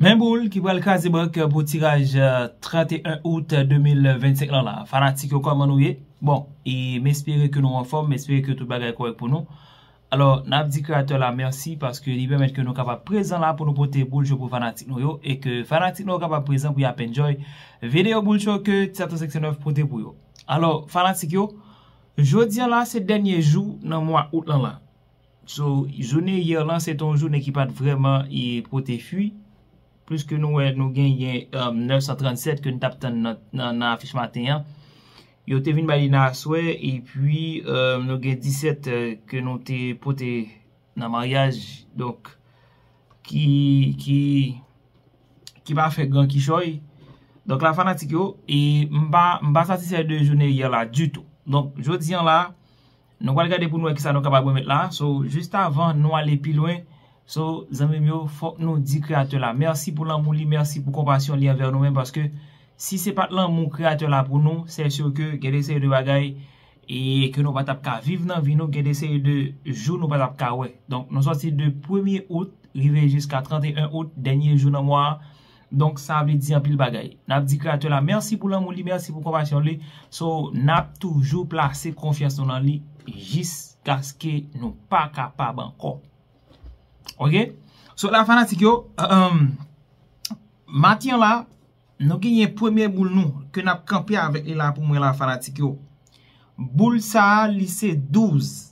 Men boul ki pral kraze bank pou tiraj 31 out 2025 lan la. Fanatik yo kòman nou ye? Bon, e m espere ke nou anfòm, m espere ke tout bagay kòrèk pou nou. Alò, n ap di kreyatè la mèsi paske li pèmèt ke nou kapab prezan la pou nou pote boul cho pou fanatik nou yo e ke fanatik nou yo kapab prezan pou y ap enjoy videyo boul cho ke Tiato 509 pote pou yo. Alò, fanatik yo, jodi an la se dènye jou nan mwa out lan la. So, jounen hier lan se te yon jounen ki pa t vrèman pote fwi, pliske nou wè nou genyen 937 ke nou t ap tann nan afich maten an, yo te vin bay li nan aswè, epi nou gen 17 ke nou te pote nan maryaj, donk, ki pa fè gran kichòy. Donk la fanatik yo, e m pa satisfè de jounen hier la ditou. Donk, jodi an la. Nou pral gade pou nou wè kisa nou kapab remèt la. So, jist avan nou ale pi lwen, so, zanmi m yo, fòk nou di Kreyatè la mèsi pou lanmou li, mèsi pou konpasyon li anvè nou menm paske si se pat lanmou Kreyatè la pou nou, sè sur ke gen de seri de bagay e ke nou pa tap ka viv nan vi nou, gen de seri de jou nou pa tap ka wè. Donk, nou sòti de premye out rive jiska 31 out, dènye jou nan mwa a, Donk sa vle di anpil bagay. Nap di Kreyatè la mèsi pou lanmou li, mèsi pou konpasyon li. So, nap toujou plase konfyans nou nan li jiskaske nou pa kapab ankò. Ok? So la fanatik yo, maten an la, nou genyen premye boul nou ke nap kanpe avèk li la pou mwen la fanatik yo. Boul sa li se 12.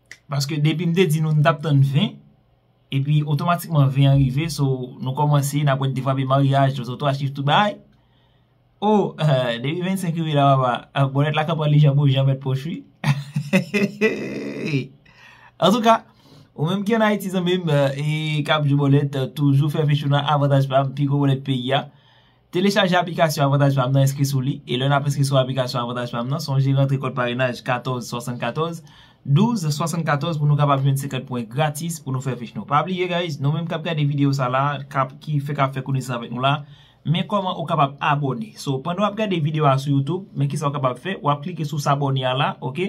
Paske depi m te di nou m tap tann 20 epi otomatikman 20 an rive so nou kòmanse nap wè defwape maryaj tout otwa chif tout bagay oh depi 25 rive la papa bòlèt la kap ale jan bon jan mèt pòch wi hehehehe antouka ou menm ki an Ayiti zanmim e kap jwe bòlèt toujou fè fechou nan avantaj pam pi gwo bòlèt peyi a. Telechaje aplikasyon Avantaj Pam nan enskri sou li e lè nap enskri sou aplikasyon Avantaj Pam nan sonje rantre kòd parenaj 14 74 12 74 pou nou kapab jwenn 50 pwen gratis pou nou fè fich nou pa bliye guys nou menm kap gade video sa la kap ki fèk ap fè konesans avèk nou la men kòman ou kapab abòne so pandan wap gade video a sou YouTube men kisa ou kapab fè wap klike sou sabòne a la ok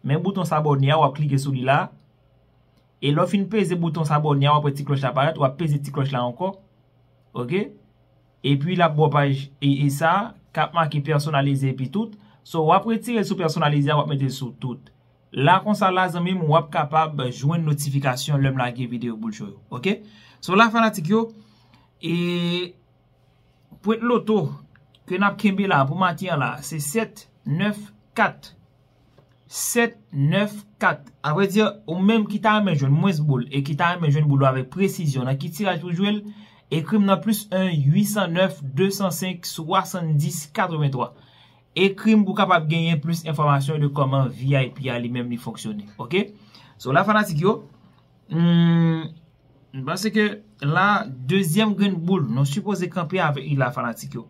men bouton sabòne a wap klike sou li la. E lè w fin peze bouton sabòne a wap wè ti klòch la parèt wap peze ti klòch la ankò ok epi lap ba w paj e sa kap make pèsonalize epi tout so wap retire l sou pèsonalize a wap mete l sou tout la konsa la zanmi m wap kapab jwenn notifikasyon lèm lage video boul cho yo ok so la fanatik yo e pwent loto ke nap kenbe la pou maten an la se 7 9 4 7, 9, 4. A vrè di, ou menm ki ta renmen jwenn mwens boul e ki ta renmen jwenn boul ou avèk presizyon nan ki tiraj pou jwe l, ekri m nan plis 1 809 205 70 83. Ekri m pou w kapab genyen plis enfòmasyon de kòman vip a li menm li fonksyone. Ok? So la fanatik yo, m panse ke la dezyèm grenn boul nou sipoze kanpe avèk li la fanatik yo.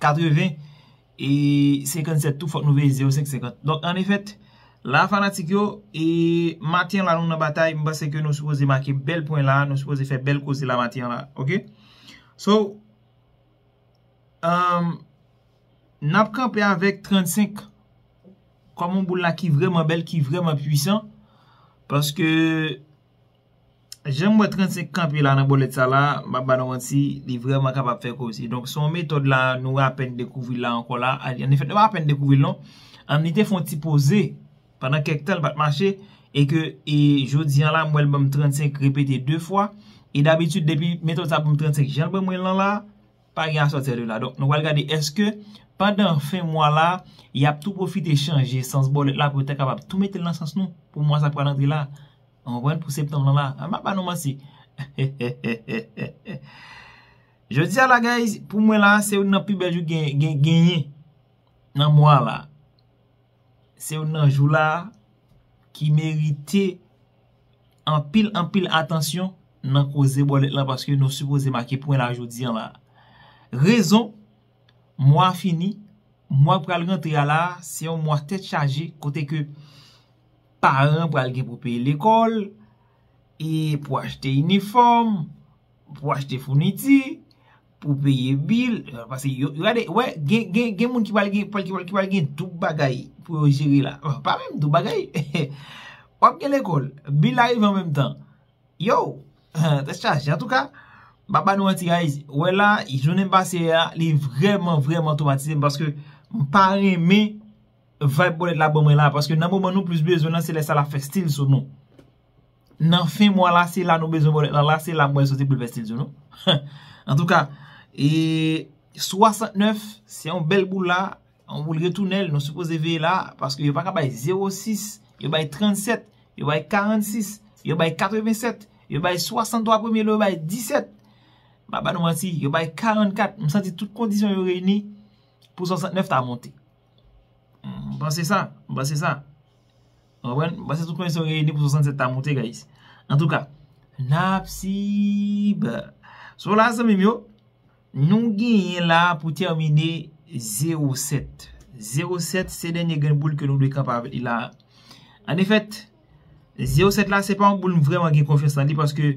80 e 57 tou fòk nou veye 0 5 50 donk an efèt la fanatik yo e maten an la nou nan batay m panse ke nou sipoze make bèl pwen la nou sipoze fè bèl koze la maten an la ok so emm n ap kanpe avèk 35 kòman boul la ki vrèman bèl ki vrèman pwisan paske Janm wè 35 kanpe la nan bòlèt sa la, m pap ba nou manti, li vrèman kapab fè koze. Donk se yon metòd la nou apèn dekouvri l la ankò la. Annefèt nou pa apèn dekouvri l non. Li te fè yon ti poze pandan kèk tan li pat mache e ke jodi an la m wè l ban m 35 repete 2 fwa e dabitid depi metòd sa ban m 35 jan l ban mwen l lan la, pa gen asòti a 2 la. Donk nou pral gade èske pandan fen mwa la y ap tou pwofite chanje sans bòlèt la pou yo ta kapab tou mete l nan sans nou pou mwa sa k pral antre la. Nou konprann pou septanm lan la. An m pa ba nou manti. Jodi a la guys, pou mwen la se youn nan pi bèl jou gen genyen nan mwa la. Se youn nan jou la ki merite anpil anpil atansyon nan koze bòlèt la paske nou sipoze make pwen la jodi an la. Rezon, mwa fini, mwa pral rantre a la se yon mwa tèt chaje kote ke Paran pral gen pou peye lekòl, e pou achte inifòm, pou achte founiti, pou peye bil, pase yo, gade, wè, gen, gen, gen moun ki pral gen, ki pral gen doub bagay pou yo jere la, pa menm doub bagay, wap gen lekòl, bil la rive an menm tan, yow, tèt chaje, an tou ka, map ba nou manti guys, wè la, jounen pase a, li vrèman, vrèman twomatize m, paske, m pa renmen. Vibe bolèt la bon mwen la paske nan moman nou plis bezwen nan se lè sa lap fè stil sou nou nan fen mwa la se la nou bezwen bolèt la la se la mwen soti poul fè stil sou nou antouka e 69 se yon bèl boul la yon boul retounèl nou sipoze veye la paske yo paka bay 06 yo bay 37 yo bay 46 yo bay 87 yo bay 63 premye lè yo bay 17 maba nou manti yo bay 44 m santi tout kondisyon yo reyni pou 69 ta monte. M panse sa, m panse sa. Ou konprann? M panse tout kondisyon yo reyini pou 67 ta moute guys. Antouka, nap sib. So la zanmim yo, nou genyen la pou termine 07. 07 se denye grenn boul ke nou dwe kanpe avèk li la. An efèt, 07 la se pa yon boul m vreman gen konfyans nan li paske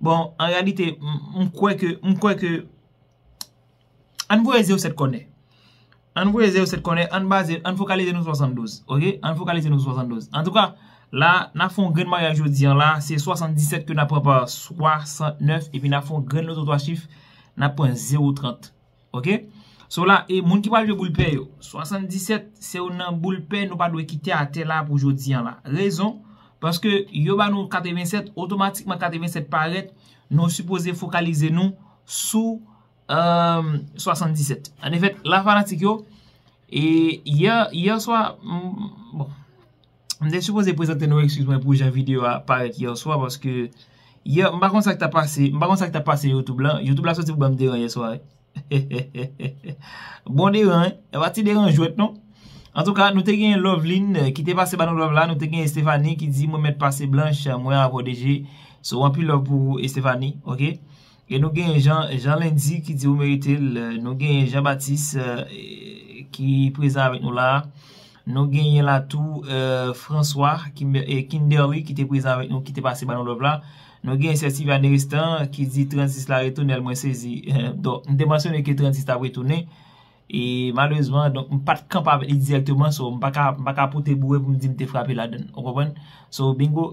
Bon, an reyalite, m kwè ke, m kwè ke, ann voye ze yo 7 kònè. Ann voye ze yo 7 kònè, ann baze, ann fokalize nou sou 72. Ok? Ann fokalize nou sou 72. Antouka, la, n ap fè yon grenn maryaj jodi an la, se 77 ke n ap pran pa 69, epi n ap fè yon grenn loto 3 chif, n ap pran 0 30. Ok So la e moun ki pral jwe boul pè yo 77 se yo nan boul pè nou pa dwe kite atè la pou jodi an la Rezon Paske yo ba nou 87 otomatikman 87 parèt nou sipoze fokalize nou sou eeuh 77 An efèt la fanatik yo e yè yè swa bon. M te sipoze prezante nou ekskiz mwen pou jan video a parèt yèswa paske yè m pa konn sak ta pase m pa konn sak ta pase youtube la youtube la soti pou banm deran yèswa hehehehe bon deran wi e pa ti deran jwèt non antouka nou te gen loveline ki te pase ba nou love la nou te gen estefani ki di mwen mèt pase blanch mwen avèw deje so anpil love pou ou estefani ok. E nou genyen Jean Jean Lundi ki di ou merite l Nou genyen Jean Baptiste ki prezan avèk nou la Nou genyen la tou François Kimberly ki te prezan avèk nou ki te pase ba nou love la Nou genyen sè Sylvia Neristan ki di 36 la retounel mwen sezi Donk m te mansyone ke 36 t ap retounen E malerezman donk m pa t kanpe avèk li dirèkteman So m pa ka pote boure pou m di m te frape ladann Ou konprann So bingo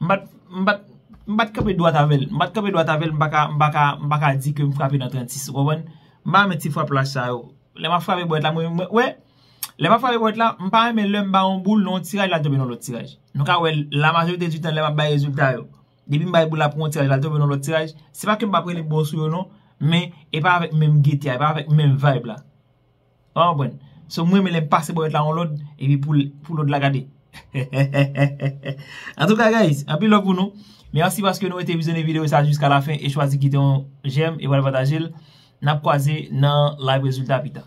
M pa t, m pa t, m pa t kanpe dwat avè l. M pa t kanpe dwat avè l, m pa ka, m pa ka, m pa ka di ke m frape nan 36, ou konprann? M pa renmen ti frap lach sa yo. Lè m ap frape bwèt la, mwen, mwen, wè, lè m ap frape bwèt la, m pa renmen lè m bay yon boul nan yon tiraj lal tonbe nan lòt tiraj. Nou ka wè l, la majorite di tan lè m ap bay rezilta yo, depi m bay boul la pou yon tiraj lal tonbe nan lòt tiraj, se pa ke m pa p rele bon sou yo non, men e pa avèk menm gete a, e pa avèk menm vayb la. Ou pa konprann? So m renmen lè m pase bò lòt la yon lòd epi pou lòd la gade. Antouka guys, anpil love pou nou. Merci paske nou rete vizyone video sa jiska la fen e chwazi kite yon j'aime e pral pataje l. Nap kwaze nan live rezilta pita.